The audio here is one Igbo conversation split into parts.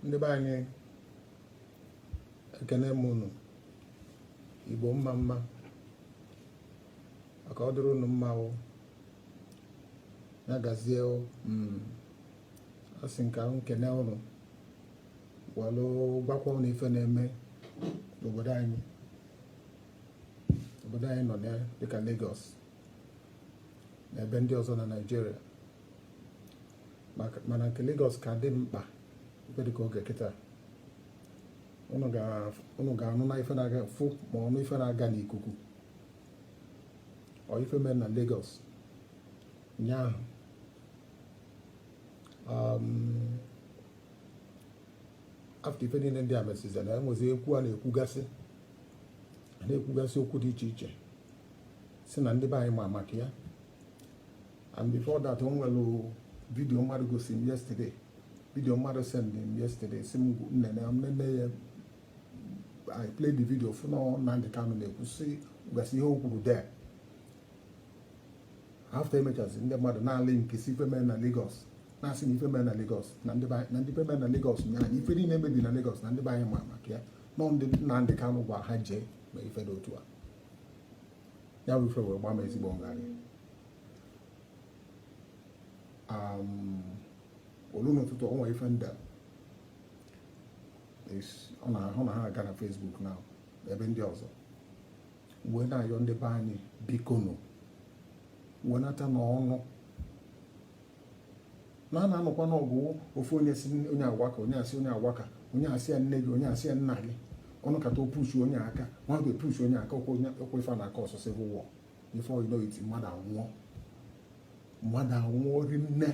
ndị be anyị ekene m unu igbo mma mma ka ọ dịrị unu mma o ya gazie o hmm. asị m ka m kene unu welụ gwakwa unu ife na-eme n'obodo anyị obodo anyị nọ na dịka Lagos na ebe ndị ọzọ na Nigeria mana nke Lagos ka dị mkpa ebe dịka oge kịta unu ga-anụ na ife na-aga fụ ma ọnụ ife na-aga n'ikuku ọ ife mere na Lagos ụnyaahụ um, after ife niile ndị a mesịzi na enwezi ekwu a na-ekwugasị a na-ekwugasị okwu dị iche iche sị na ndị be anyị ma maka ya and before that o nwere video mmadụ gosi m yesterday video mmadụ send m yesterday sị m nene nene ya I played the video fụ na Nnamdi Kanu na-ekwusigasị ihe o kwuru there after emechazi ndị mmadụ na-alinkesi ife mere na Lagos na-asị na ife mere na Lagos na ndị ife mere na Lagos nya na ife niile e mebi na Lagos na ndị be anyị ma maka ya na ọ ndị Nnamdi Kanu gwa ha jee mee ife dị otu a ya bụ ife wee gbaa m ezigbo ngharị o lu n'ụtụtụ o nwe ife ndị a ọ na-ahụ na ha aga na Facebook na ebe ndị ọzọ wee na-ayọ ndị be anyị bikonu wenatanụ ọnụ na a na-anọkwa n'ọgụ ofu onye sị onye a waka onye a sị onye a waka onye a sị ya nne gị onye a sị ya nna gị ọ nọkata o pushuo onye aka nwa ga-epushu onye aka ọkwa ife na-acause civil war before you know it mmadụ anwụọ mmadụ anwụọ rinne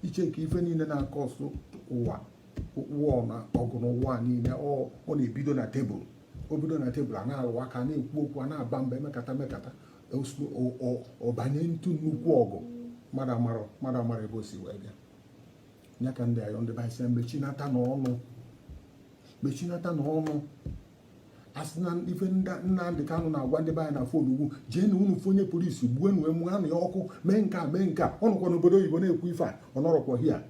i checkie ife niile na-acause world war na ọgụ n'ụwa niile ọ na-ebido na table o bido na table a na-alụ aka na-ekwu okwu a na-aba mba e mekata mekata ọ banye into nnukwu ọgụ mmadụ amara mmadụ amara ebe o si wee bịa ya ka m ji ayọ ndị be anyị sị ha mechinatanụ ọnụ mechinatanụ ọnụ a sị na ife Nnamdi Kanu na-agwa ndị be anyị na phone ngwa jee nụ unu fụ onye police gbuo nụ e mụọ nụ ya ọkụ mee nke a mee nke a ọ nọkwa n'obodo oyibo na-ekwu ife a ọ nọrọkwa here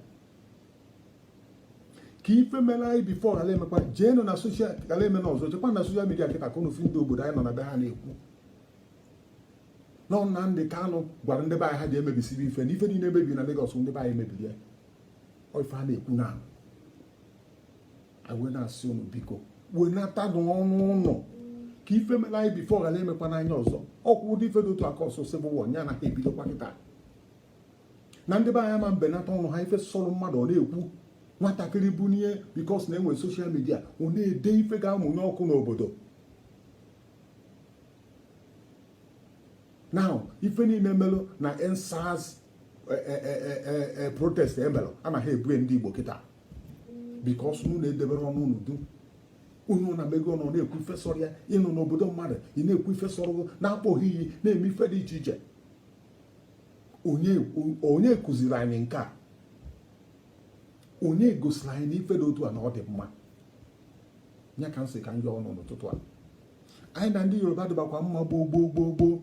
ka ife mere anyị before ghara imekwa jee nụ na social ghara ime na ọzọ jekwa na social media kịta ka unu fụ ndị obodo anyị nọ na be ha na-ekwu na Nnamdi Kanu gwara ndị be anyị ha jee mebisie ife na ife niile e mebi na Lagos ndị be anyị mebiri ya ife a na-ekwu na wee na-asị unu biko wenatanụ ọnụ unu ka ife mere anyị before ghara emekwana anyị ọzọ ọ kwa ụdị ife dị otu a kọsọ civil war ya na ha ebidokwa kịta na ndị be anyị ama mbenata ọnụ ha ife sọrọ mmadụ ọ na-ekwu nwatakịrị bunie because na enwere social media ọ na-ede ife ga-amụnye ọkụ n'obodo now ife niile melụ na EndSARS eh, eh, eh, protest emelụ ana ha ebo ya ndị Igbo kịta because na unu edeberọ ọnụ unu duu onye ọwụna emeghe ọnụ na-ekwu ife sọrọ ya ị nọ n'obodo mmadụ ị na-ekwu ife sọrọ gị na-akpọ ha iyi na-eme ife dị iche iche onye kụziri anyị nke a onye gosiri anyị na ife dị otu a na ọ dị mma ya ka m sị ka m yọọ unu n'ụtụtụ a anyị na ndị Yoruba dịbakwa mma gboo gboo gboo gboo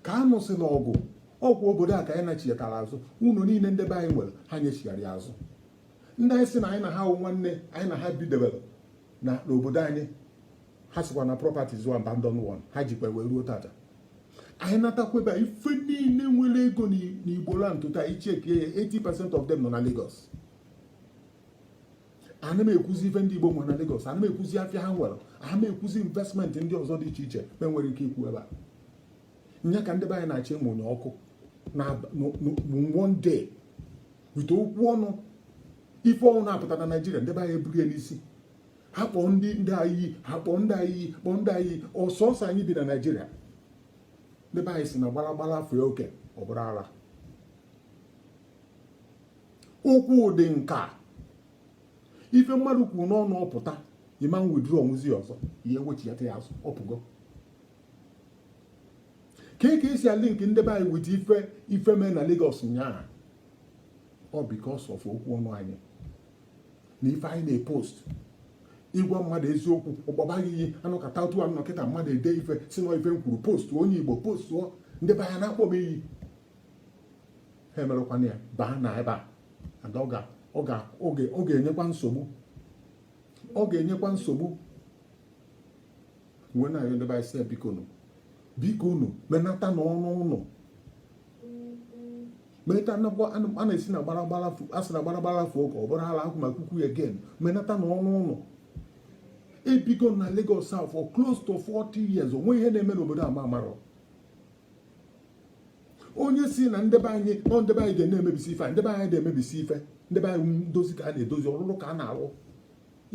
ka a nụsịla ọgụ ọ kwa obodo a ka anyị nachighatara azụ ụlọ niile ndị be anyị nwere ha nyechigharị azụ ndị anyị sị na anyị na ha wụ nwanne anyị na ha bidebere n'obodo anyị ha sịkwa na properties were abandoned one ha jikwa wee ruo taata anyị anatakwabe ife niile nwere ego n'Igbo land taa i chekie ya 80% of them nọ na Lagos ana m ekwuzi ife ndị Igbo nwere na Lagos ana m ekwuzi afịa ha nwere ana m ekwuzi investment ndị ọzọ dị iche iche m nwere ike ikwu ebe a nya ka ndị be anyị na-achọ ịmụnye ọkụ na one day with okwu ọnụ ife ọwụna pụta na Naịjirịa ndị be anyị eburu ya n'isi ha kpọọ ndị ndị a iyi ha kpọọ ndị a iyi kpọọ ndị a iyi ọ sọsọ anyị bi na Naịjirịa ndị be anyị sị na gbalagbala fee oke ọ bụrụ ara okwu dị nka ife mmadụ kwuru n'ọnụ ọ pụta ị ma withdraw nwuzi ọzọ ị ya-ewechighata ya azụ ọ pụgo ka ị ka esi alink ndị be anyị with ife ife mee na Lagos nyaa ọ because of okwu ọnụ anyị na ife anyị na-epost ị gwa mmadụ eziokwu ọ kpọba gị iyi a nọkata otu a nọkata mmadụ ede ife sị na ife m kwuru post onye Igbo post ndị be anyị na-akpọ m iyi ha emerekwana ya baa na ebe a ọ ga-enyekwa nsogbu ọ ga-enyekwa nsogbu wee na-ayọ ndị be anyị sị bikonụ bikonụ menatanụ ọnụ unu menata a na-asị na gbaragbara a sị na gbaragbara fee oke ọ bụrụ ala akwụ maka ukwu again menatanụ ọnụ unu ebigo m na Lagos a for close to 40 years onwe ihe na-eme n'obodo a m amarọ onye sị na ndị be anyị ọ ndị be anyị ga na-emebisi ife ndị be anyị ada emebisi ife ndị be anyị ndozi ka a na-edozi ọlụlụ ka a na-alụ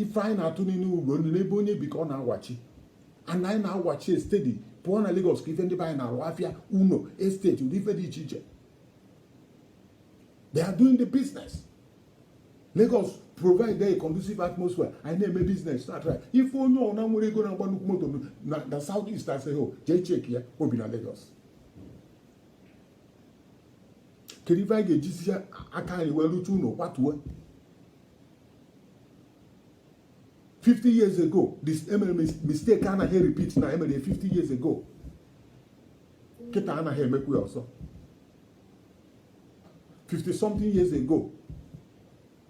ife anyị na-atụ n'inu bụ na ebe onye bi ka ọ na-awachi and anyị na-awachi ya steady pụọ na Lagos ka ife ndị be anyị na-alụ afịa ụnọ estate ụdị ife dị iche iche they are doing the business Lagos provide a conducive atmosphere anyị na-eme business start right ịfụ onye ọwụna nwere ego na-agba nnukwu moto na south east asị ho jee cheki ya o bi na Lagos kedu ife anyị ga-ejizi aka anyị wee rụta ụlọ kwatuo 50 years ago this emere mistake anaghị repeat na emere 50 years ago kịta anaghị emekwu ya ọzọ 50 something years ago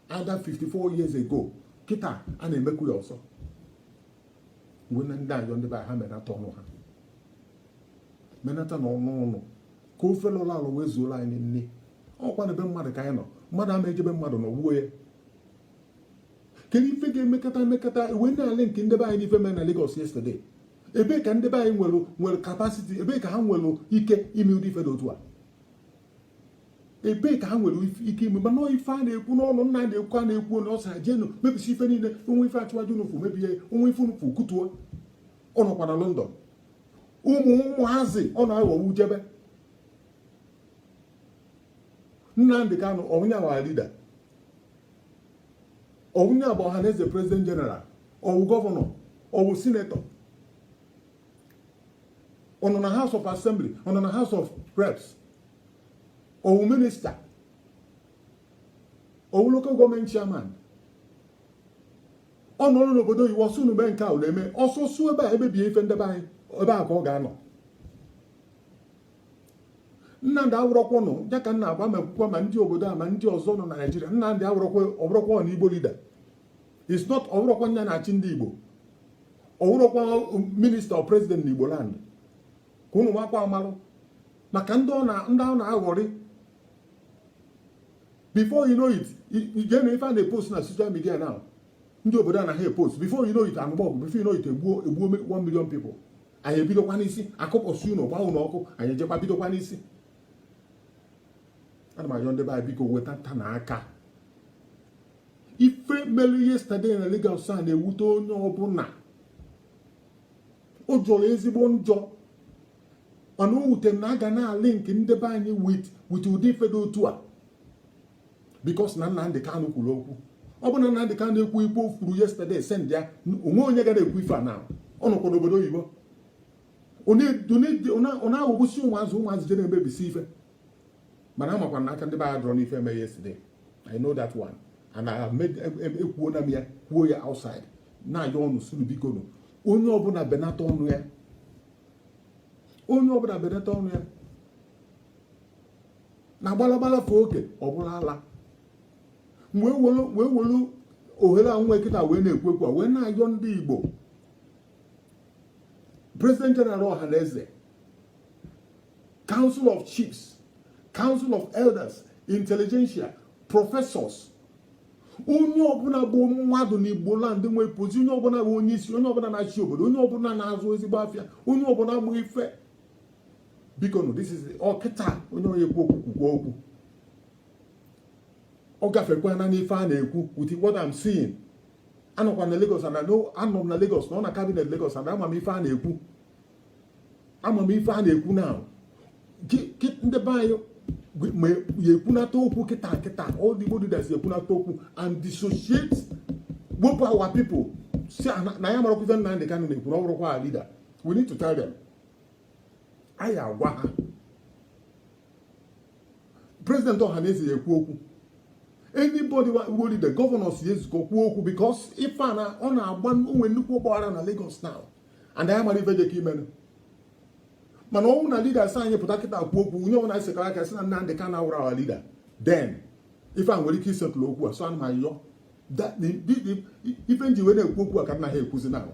ada 54 years ago kịta a na-emekwu ya ọzọ wee na ndị ayọ ndị be ha menata ọnụ ha menata na ọnụ ọnụ ka ofe lọrọ alọ wee zuolu anyị nni ọkwa na be mmadụ ka anyị nọ mmadụ ama eje be mmadụ nọgbuo ya kedu ife ga-emekata emekata e wee na-alink ndị be anyị n'ife mere na Lagos yesterday ebee ka ndị be anyị nwere nwere capacity ebee ka ha nwere ike ime ụdị ife dị otu a ebee ka ha nwere ike ime mana ife a na-ekwu n'ọnụ nna na-ekwu a na-ekwu na ọ sị ha jenụ mebisie ife niile o nwee ife Asiwaju unu fụ mebie o nwee ife unu fụ kụtuo ọ nọkwa na London ụmụ ụmụazị ọ na-aghọwu jebe Nnamdị Kanụ ọwụ nya wụ leader ọwụ nya bụ Ọhanaeze president general ọwụ gọvanọ ọwụ sinetọ ọ nọ na House of Assembly ọ nọ na House of Reps ọwụ minista ọwụ local government chairman ọ nọlụ n'obodo oyibo ọ sị unu mee nke a na-eme ọ sị suo ebe a ebibie ife ndị be anyị ebe a ka ọ ga-anọ Nnamdị awụrọkwanụ ya ka m na-agwa ma ekwukwa ma ndị obodo a ma ndị ọzọ nọ na Naịjirịa Nnamdị awụrọkwa ọbụrọkwa na Igbo leader is not ọbụrọkwa nya na-achị ndị Igbo ọwụrọkwa minista or president na Igbo land ka ụnụ makwa amalụ maka ndị ọ na-aghọrị before you know it jee nee ife a na-epost na social media now ndị obodo anaghị epost before you know it anụba ọgụ before you know it egbuo egbuo 1 million people anyị ebidokwa n'isi akụkpọsịa ụnọ gbaa ụnọ ọkụ anyị ejekwa bidokwa n'isi ana m ayọ ndị be anyị biko wedatanụ aka ife melu yesterday na Lagos a na-ewute onye ọbụla o jọrọ ezigbo njọ mana o wute na a ga na-alink ndị be anyị with with ụdị ife dị otu a because na Nnamdị Kanụ kwuru okwu ọ bụ na Nnamdị Kanụ ekwughị ife o kwuru yesterday send ya o nwe onye gara ekwu ife a na ọ nọkwa n'obodo oyibo ọ na-aghọgbusi ụmụazị ụmụazị je na-emebisi ife mana amakwa na aka ndị be anyị adịrọ n'ife eme yesterday I know that one and I ekwuona m ya kwuo ya outside na-ayọ unu sị unu bikonụ onye ọbụla benata ọnụ ya onye ọbụla benata ọnụ ya na gbalagbala fee oke ọ bụrụ ala wee welu ohere anwa kịta wee na-ekwu okwu wee na-ayọ ndị Igbo President General Ohanaeze Council of Chiefs Council of Elders Intelligentsia Professors onye ọbụla bụ mmadụ n'Igbo land nwee pozi onye ọbụla bụ onye isi onye ọbụla na-achị obodo onye ọbụla na-azụ ezigbo afịa onye ọbụla bụ ife bikonụ this is ọ kịta onye onye ekwu okwu kwukwa okwu ọ gafekwana n'ife a na-ekwu with what I'm seeing anọkwa na Lagos and anọ m na Lagos nọ na cabinet Lagos and ama m ife a na-ekwu ama m ife a na-ekwu now ndị be anyị ma ya ekwunata okwu kịta kịta all the body that ekwunata okwu and dissociate wepụ our people sị na anyị amarọkwa ife Nnamdi Kanu na-ekwu na ọ bụrọkwa our leader we need to tell them anyị agwa ha president Ohanaeze ya ekwu okwu anybody who the governors ya ezukọ kwuo okwu because ife a na ọ na-agba o nwee nnukwu ọgbaghara na Lagos now and anyị amarọ ife jekọ imenụ mana ọ wụ na leaders anyị pụta kịta kwuo okwu onye ọbụla anyị sekara aka sị na Nnamdi Kanu awụrọ our leader then ife a nwere ike i settle okwu a so ana m ayọ ife m ji wee na-ekwu okwu a ka m na-ekwuzi na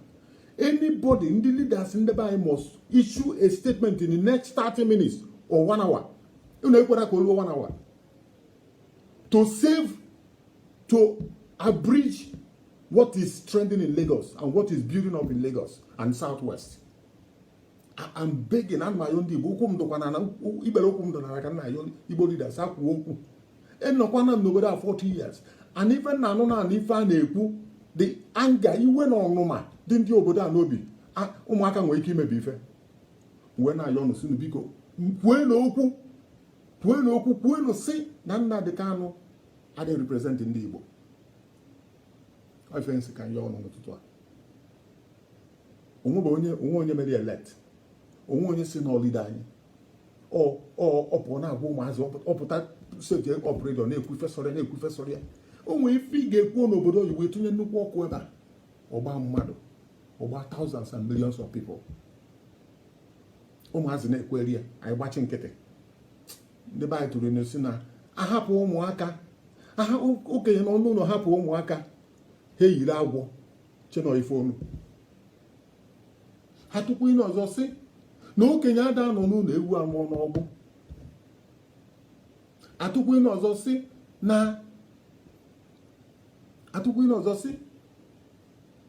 anybody ndị leaders ndị be anyị must issue a statement in the next 30 minutes or one hour unu ekwena ka o luo one hour to save to abridge what is trending in Lagos and what is building up in Lagos and Southwest. I'm begging ana m ayọ ndị Igbo ụkwụ m dụkwa n'ikpere ụkwụ m dụ n'ala ka m na-ayọ Igbo leaders ha kwuo okwu anọkwana m n'obodo a 40 years and ife m na-anụ na-anụ ife a na-ekwu the anger iwe na ọnụma dị ndị obodo a n'obi ụmụaka nwere ike imebi ife wee na-ayọ unu sị unu biko kwuenụ okwu kwuenụ okwu kwuenụ sị na Nnamdi Kanu adịghị represent ndị Igbo ife m sị ka m yọọ unu n'ụtụtụ a o nwe onye o nwe onye mere ya elect o nwe onye sị na ọ leader anyị ọ pụọ na-agwa ụmụazị ọ pụta set up radio na-ekwu ife sọrọ ya na-ekwu ife sọrọ ya o nwere ife ị ga-ekwuo n'obodo oyibo etinye nnukwu ọkụ ebe a ọ gbaa mmadụ ọ gbaa thousands and millions of people ụmụazị na-ekweri ya anyị gbachi nkịtị ndị be anyị tụrụ inu sị na a hapụ ụmụaka aha okenye nọ n'ụlọ hapụ ụmụaka ha eyiri agwọ che na ọ ife onu atụkwu inu ọzọ sị na okenye ada anọ n'ụnọ ewu amụọ n'ọgbụ atụkwu inu ọzọ sị na atụkwu inu ọzọ sị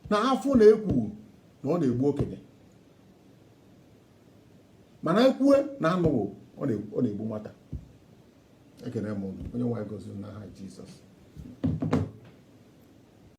na afụ na-ekwu na ọ na-egbu okenye mana ekwue na anụghị ọ na-egbu nwata ekene m unu onye nwe anyị gọzie unu n'aha Jizọs